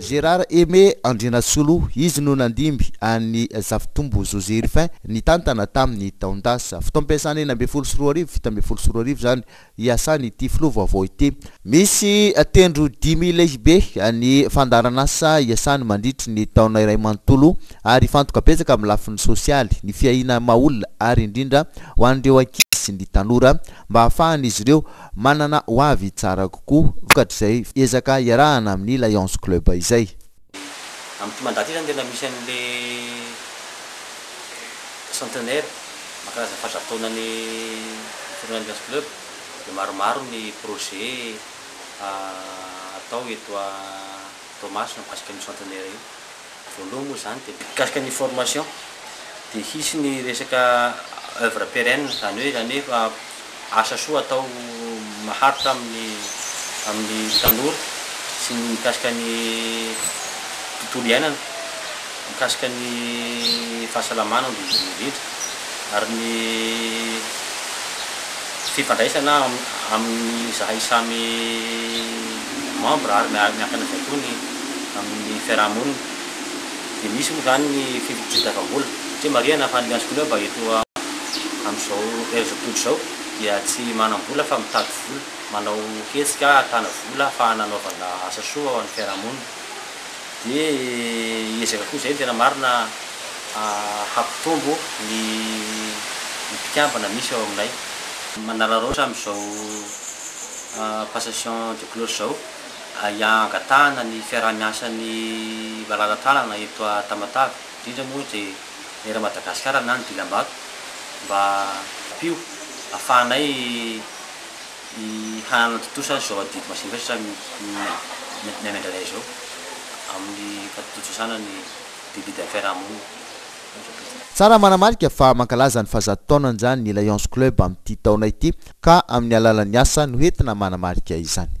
Gérard Aimé Andrianasolo, izy no nandimby an'i Zafitombo José Rufin nitantana tamin'ny taon-dasa. Fotoam-piasana enina ambin'ny folo sy roa arivo, fito ambin'ny folo sy roa arivo izany, iasan'ity filoha vaovao ity. Misy tendro dimy lehibe ny fandaharan'asa iasany mandritry ny taona iray manontolo ary hifantoka betsaka amin'ny lafiny sosialy, ny fiahiana maha olona ary indrindra ho an'ireo ankizy sy ny tanora mba hahafahan'izy ireo Manana ho avy tsara kokoa vokatr'izay ezaka iarahana amin'ny Lions Club izay. Amin'ity mandat ity izany dia tena misy an'ilay centenaire mankalazana fahazato taonan'ny filohan'ny Lions Club dia maromaro ny projets atao eto Toamasina mikasika an'io centenaire io. Voalohany moa izany dia mikasika ny formation dia hisy ny resaka oeuvre pérenne izany hoe izany hoe asa soa atao maharitra amin'ny amin'ny tanora sy ny mikasika ny tontolo iainana, mikasika ny fahasalamana indrindra indrindra. ary ny fifandraisana amin'izahay samy membre ary miankina avy hatrony amin'ny fiaraha-monina dia misy moa izany ny fitadiavam-bola satria marihina fa ny Lions Club eto amin'izao herizao tontolo izao dia tsy manam-bola fa mitady vola, manao hetsika ahitana vola ahafahana hanaovana asa soa ho an'ny fiaraha-monina. Dia hiezaka koa izay ny tena marina hampitombo ny mpikambana misy ao aminay. Manararaotra amin'izao passation de cloche izao hangatahana ny fiaraha-miasan'ny malala-tànana eto Tamatave, indrindra moa dia ny Air Madagascar na ny Dilambato mba hampio ahafahanay Ny hanatontosa izao adidy masinvesatra miainandraindray izao amin'ny fatontosaana ny Délit d'affaires Amono. Tsara manamarika fa mankalaza ny fahazato taonan'izany ny Lions Club amin'ity taona ity ka amin'ny alalan'ny asa no entina manamarika izany.